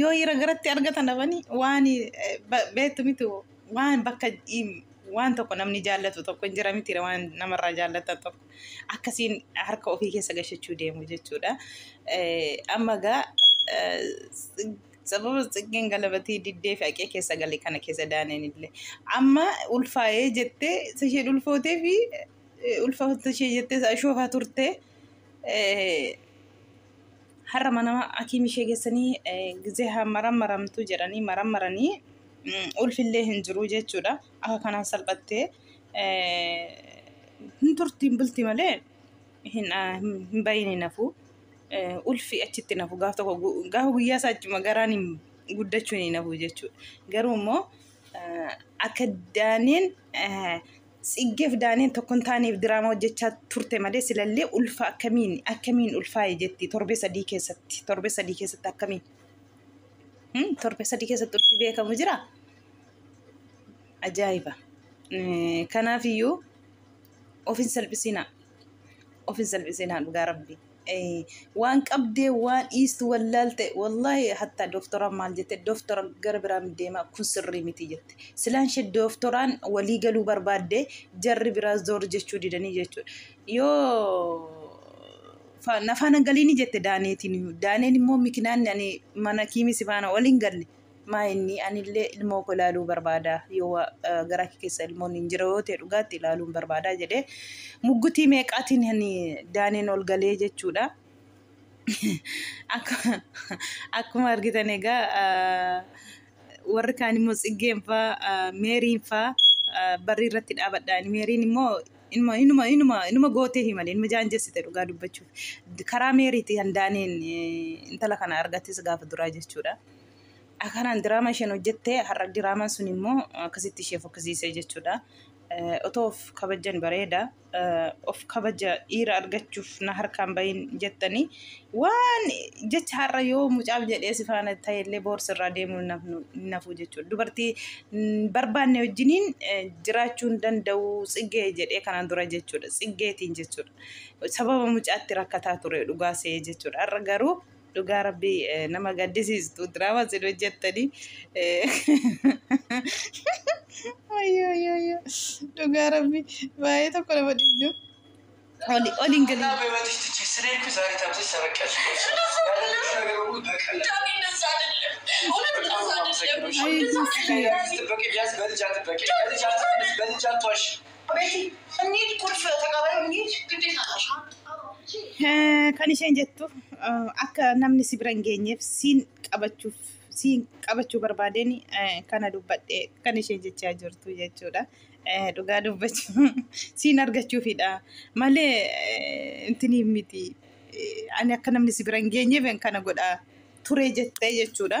Yoo ira garatti argatan dhabani waan eh, ba- beektu miti waan bakka im- waan tokko namni jaallatu tokko hin jira miti waan namarraa jaallatan tokko akkasiin harka ofii keessa gashachuu deemu jechuudha. Eh, Amma gaa eh, sababa xiqqeen galabatii diddee fi haqee keessa gale kana keessa daaneen illee amma ulfaa'ee jettee isa isheen ulfootee fi eh, ulfaa'uu ishee jettee isa ashoofaa turte. Eh, Har'a mana hakiim ishee geessanii gizee haa marammaramtu jedhanii marammaranii ulfillee hin jiru jechuudha. Akka kanaan salphattee hin turtiin bulti malee hin bahiin hin hafu. Ulfi achitti hin hafu gaaf tokko gaafa guyyaa isaa achuma garaan hin guddachuun hin hafu jechuudha. Garuu immoo akka daaniin Tsiggeef Daaniin tokko hin taaneef diraamaa hojjechaa turte malee silallee ulfa akkamiin akkamiin ulfaa'e jetti torbee sadii keessatti torbee sadii keessatti akkamiin Hmm, torbee sadii keessatti ulfi beekamu jira ajaa'iba Eh, kanaafiyyuu of hin salphisinaa of hin salphisinaa dhugaa rabbii waan qabdee waan dhiistu wallaalte wallahi hatta dooftoraan maal jette dooftora gara biraan deema kun sirrii miti jette silaan ishee dooftoraan walii galuu barbaadde jarri biraa zoor jechuu didanii jechuudha yoo fa- na faana galiini jette daaneetiin iyyuu. daaneen immoo mikinaan ani mana kiimisi faana waliin galle Maa inni anillee ilmoo koo ilaaluu barbaada yoo wa- eh, garaa kee keessa ilmoon hin jira yoo ta'e dhugaatti ilaaluun barbaada jedhee muggutii meeqaatiin ani daaneen ol galee jechuudha. Akka- Akkuma argitan egaa ah, warri kaan immoo tsiggeen faa ah, meeriin faa ah, barrii irratti dhaabadhaan meeriin immoo inuma inuma inuma inuma gootee himale inuma jaanjessite dhugaa dubbachuuf karaa meeriiti handaaneen eh, intala kana argattes gaafa duraa jechuudha. Akanaan diraama isheen hojjette har'a diraamaan sun immoo akkasitti ishee fokkisiisee jechuudha. Otoo of kabajjan bareeda. Of kabaja dhiira argachuuf na harkaan bahin jettanii waan jecha har'a yoo mucaaf jedhee si faana ta'ellee boorsi irraa deemuu hin hafuu jechuudha. Dubartii barbaanne wajjiniin jiraachuu hin danda'u tsiggee jedhee kanaan dura jechuudha. Tsiggeetiin jechuudha. Sababa mucaatti rakkataa ture dhugaa se'ee jechuudha. Har'a garuu Dhugaa rabbii eh, nama gaddisiistu diraamaa sin hojjettanii. Wayyoo wayyoo wayyoo. Dhugaa rabbii baay'ee tokko nama dhibdu. Oli oli hin galii. Kan isheen jettu akka namni si bira hin geenyeef siin qabachuuf siin qabachuu barbaadeen kana dubbadhe kan isheen jechaa jirtu jechuudha. Dhugaa dubbachuu siin argachuufidha malee intiniif miti. Ani akka namni si bira hin geenyeef kana godha ture jettee jechuudha.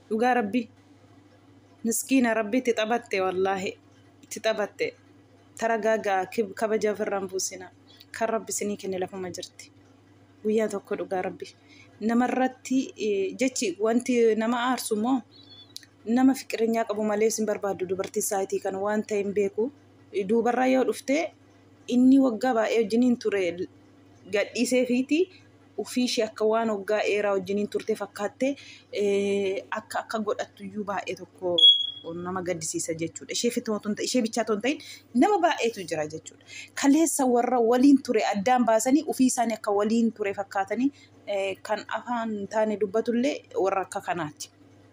dhugaa rabbi miskiina rabbi itti taphatte wallaahi itti taphatte taragaagaa kib- kabaja ofirraan buusina kan rabbi isinii kenne lafuma jirti guyyaa tokko dhugaa rabbi namarratti eh, jechi wanti nama aarsu immoo nama fiqirinyaa qabu malee isin barbaaddu dubartii saayitii kan waan ta'e hin beeku duubarraa yoo dhufte Inni waggaa baay'ee wajjiniin ture gadhiiseefiiti. Ofii ishee akka waan waggaa dheeraa wajjiniin turte fakkaattee akka akka godhattu iyyuu baay'ee tokko nama gaddisiisa jechuudha. Ishee fitoo tun ishee bichaa tun ta'in nama baay'eetu jira jechuudha. Kaleessa warra waliin ture addaan baasanii ofii isaanii akka waliin ture fakkaatanii kan afaan taane dubbatullee warra akka kanaati.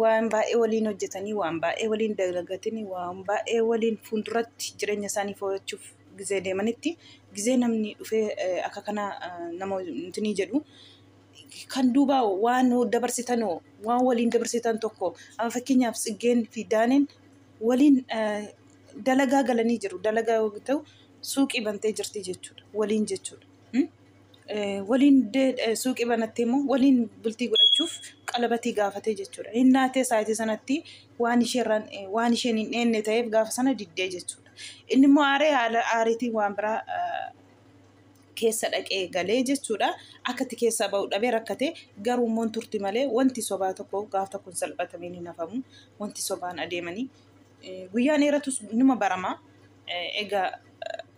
waan baay'ee waliin hojjetanii waan baay'ee waliin dalagatanii waan baay'ee waliin fuulduratti jireenya isaanii foo'achuuf gizee deemanitti gizee namni dhufee eh, akka kana eh, nama nutinii jedhu kan duubaa waan dabarsitan hoo, waan waliin dabarsitan tokko amma fakkeenyaaf tsiggeen fi daaneen waliin eh, dalagaa galanii jiru dalagaa yoo ta'u suuqii bantee jirti jechuudha waliin jechuudha. Hmm? waliin suuqii banattee immoo waliin bultii godhachuuf qalabatii gaafatee jechuudha. Hin naatee saayitii sanatti waan isheerraan waan isheen hin dheenne ta'eef gaafa sana diddee jechuudha. Inni immoo aaree haala aariitiin waan biraa keessa dhaqee galee jechuudha. Akkatti keessaa ba'u dhabee rakkate garuu immoo turti malee wanti sobaa tokko gaaf tokko hin salphatameen hin hafamu. Wanti sobaan adeemanii guyyaan dheeratus numa barama. Egaa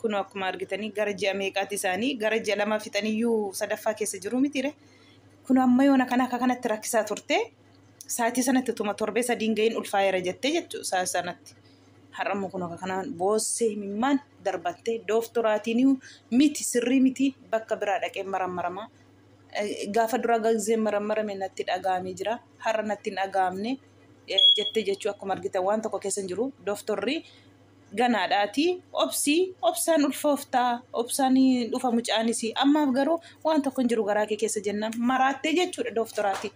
kunoo akkuma argitanii gara ji'a meeqaati isaanii gara ji'a lama fixaniyyuu sadaffaa keessa jiru mitiire kunoo amma yoona kana akka kanatti rakkisaa turte saatii sanatti utuma torbee sadiin ga'iin ulfaa'eera jettee jechuu saa sanatti har'ammoo kunoo akka kanaan boossee himimmaan darbattee dooftoraatiin miti sirrii miti bakka biraa dhaqee marammaramaa gaafa duraa gazee marammarame natti dhaga'amee jira har'a natti hin dhaga'amne jettee jechuu akkuma argitan waan tokko keessa hin jiru dooftorri ganaadha ati obsi obsaan ulfooftaa obsaan hin dhufa mucaanis ammaaf garuu waan tokko hin jiru garaa kee keessa jennaan maraattee jechuudha dooftoraatiin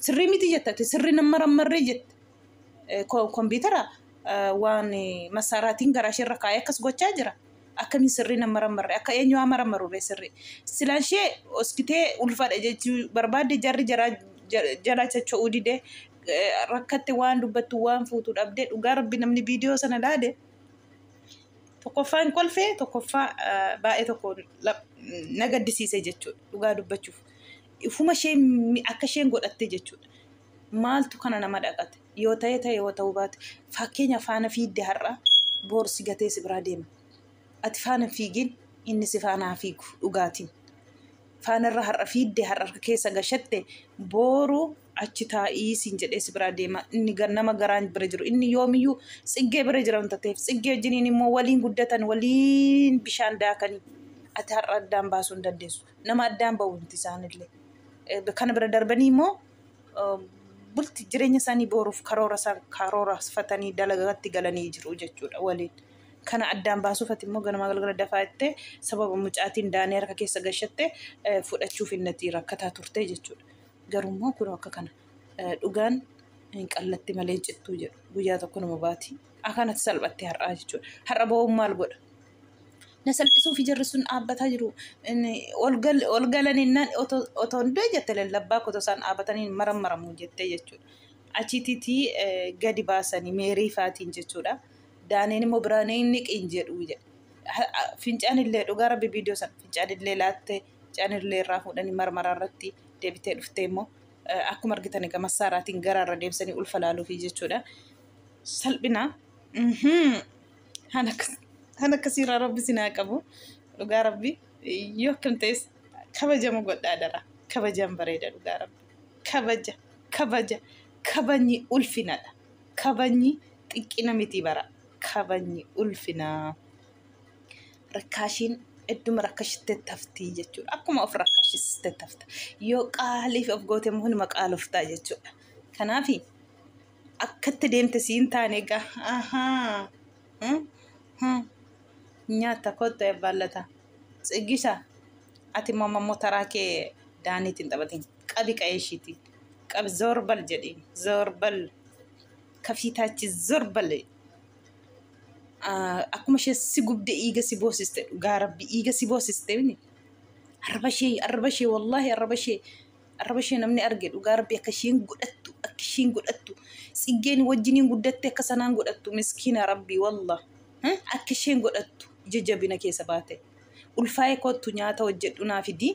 sirrii miti jetta ati sirrii nan marammarree jette Eh, ko- kompiitara eh, waan eh, masaaraatiin garaa ishee irra kaa'ee akkas gochaa jira akkamiin sirrii nan marammarre akka eenyu haa marammarurree sirrii silaan ishee hoskitee ulfaadha jechuu barbaadde jarri jaraa ja- jalaa chacha'uu didee rakkatte waan dubbattu waan fuutu dhabde dhugaa rabbi namni viidiyoo sana laale tokkoffaa hin kolfee tokkoffaa baay'ee tokko na gaddisiise jechuudha dhugaa dubbachuuf ifuma ishee akka isheen godhatte jechuudha maaltu kana nama dhaqate yoo ta'e ta'e yoo ta'uu baate fakkeenya faana fiidde har'a boorsi gatee si biraa deema ati faana fiigin inni si faanaa fiigu dhugaatiin faanarra har'a fiidde har'a harka keessa gashatte booru achi taa'ii siin jedhee si biraa deema inni gar- nama garaan bira jiru inni yoomiyyuu tsiggee bira jira wanta ta'eef tsiggee wajjiniin immoo waliin guddatan waliin bishaan daakanii ati har'a addaan baasuu hin dandeessu nama addaan ba'u miti isaanillee Eh, kana bira darbanii immoo eh, bulti jireenya isaanii booruuf karoora isaan karoorfatanii dalagatti galanii jiru jechuudha waliin. Kana addaan baasuuf ati immoo ganamaa galgala dafaa jettee sababa mucaatiin daanee harka keessa gashatte fudhachuuf innati rakkataa turte jechuudha. Garuu immoo kun akka kana dhugaan hin qallatti malee hin cittuu jedhu guyyaa tokko nama baati. Akanatti salphatte har'aa jechuudha. Har'a ba'uun maal godha? Na salphisuuf ijarri sun dhaabbataa jiru. Ol galanii nan otoo hin du'e jette lallabbaa kotoo isaan dhaabatanii maran maramu jettee jechuudha. Achitiitii gadi baasanii meerii faatiin jechuudha. Daaniin immoo biraa ni niqiin jedhu fincaan illee dhugaa rabbi viidiyoo sana fincaan illee laattee fincaan illee irraa fuudhanii marmaraa irratti deebitee dhuftee immoo akkuma argitan egaa massaaraatiin garaa irra deemsanii ulfa laaluufi jechuudha. Salphina kan akkasiirraa rabbi sinaa qabu dhugaa rabbi yoo akkam ta'es kabajamu godhaa dara kabajaan bareeda dhugaa rabbi kabaja kabaja kabajni ulfinadha kabajni xiqqina miti bara kabajni ulfinaa rakkaashiin idduma rakkashitte taftii jechuudha akkuma of rakkashiste tafta yoo qaaliif of goote immoo hunuma qaaloftaa jechuudha kanaaf akkatti deemte siin taane egaa ahaa hmm, hmm. nyaata kottu eebbaallata tsiggisa ati immoo ammoo taraa kee daaniitiin taphatiin qabi qa'ee ishiitii qabi zoorbal jedhiin zoorbal. kafiitaachi zor bale akkuma ishee si gubde iiga si boosiste dhugaa rabbi iiga si boosiste mini arraba ishee arraba ishee wallaahi arraba ishee arraba ishee namni arge dhugaa rabbi akka isheen godhattu akka isheen godhattu tsiggeen wajjiniin guddatte akka sanaan godhattu miskiina rabbi wallah akka isheen godhattu ija jabina keessa baate ulfaa'ee kottu nyaata hojjedhu naa fidii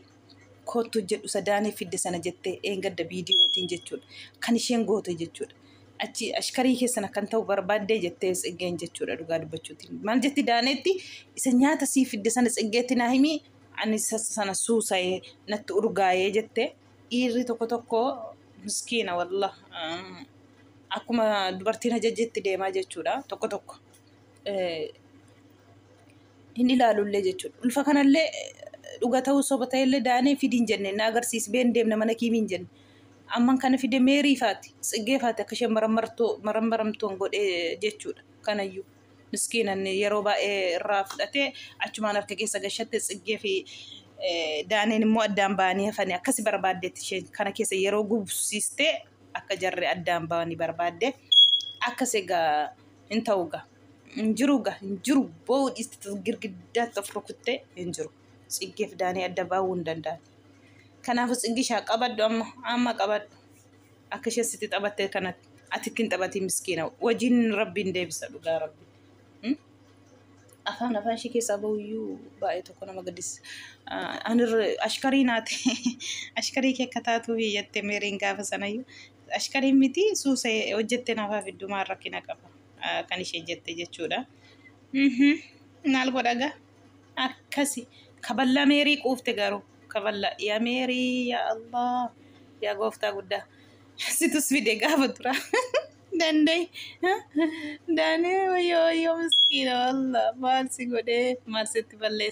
koottu jedhu sadaanii fidde sana jette eengadda viidiyootiin jechuudha. Kan isheen goote jechuudha. Achi ashkarii keessan akkan ta'u barbaaddee jettee tsiggeen jechuudha dhugaa dubbachuutiin. Maal jetti daaneetti isa nyaata sii fidde sana tsiggeetti naa himii ani sassa sana suusa'ee natti urgaa'ee jette dhiirri tokko tokko miskiina wallah akkuma dubartiin ajajjetti deemaa jechuudha tokko tokko. hin ilaalullee jechuudha. Ulfa kanallee dhuga ta'uu soba ta'ellee daanee fidiin jenne na agarsiisi been deemna mana kiimiin jenne. Amman kana fide meerii faati tsiggee faati akka isheen marammartoo marammaramtoon godhee jechuudha. Kanayyuu miskiinan yeroo baay'ee irraa fudhatee achumaan harka keessa gashatte tsiggee fi daaneen immoo addaan ba'anii hafanii akkasi barbaaddeetti isheen kana keessa yeroo gubsiistee akka jarri addaan ba'anii barbaadde akkas egaa Hin ta'u ga. Hin jiru ga. Hin jiru. Boo'uu dhiisti girgiddaatti of rukuttee hin jiru. Tsiggeef daanii adda baa'uu hin danda'an. Kanaafuu tsiggishaa qabadhu amma amma qabadhu. Akka ishee sitti taphattee kanatti ati ittiin taphatii miskiina wajjin rabbiin deebisa dhugaa rabbi. Hmm? Afaan afaan ishee keessaa bahuyyuu baay'ee tokko nama gaddisa. Anir ashkarii naati ashkarii kee akka taatuuf iyyatte meeriin gaafa sanayyuu Ashqariin miti suusa hojjette naaf haa fiddu maal rakkina qaba kan isheen jette jechuudha. Maal godha gaa akkasi kaballa meerii quufte garuu kaballa yaa meerii yaa Allah yaa gooftaa guddaa situs fide gaafa dura dandee daanee wayyoo wayyoo miskiina wallah maal si godhee maal sitti balleessa.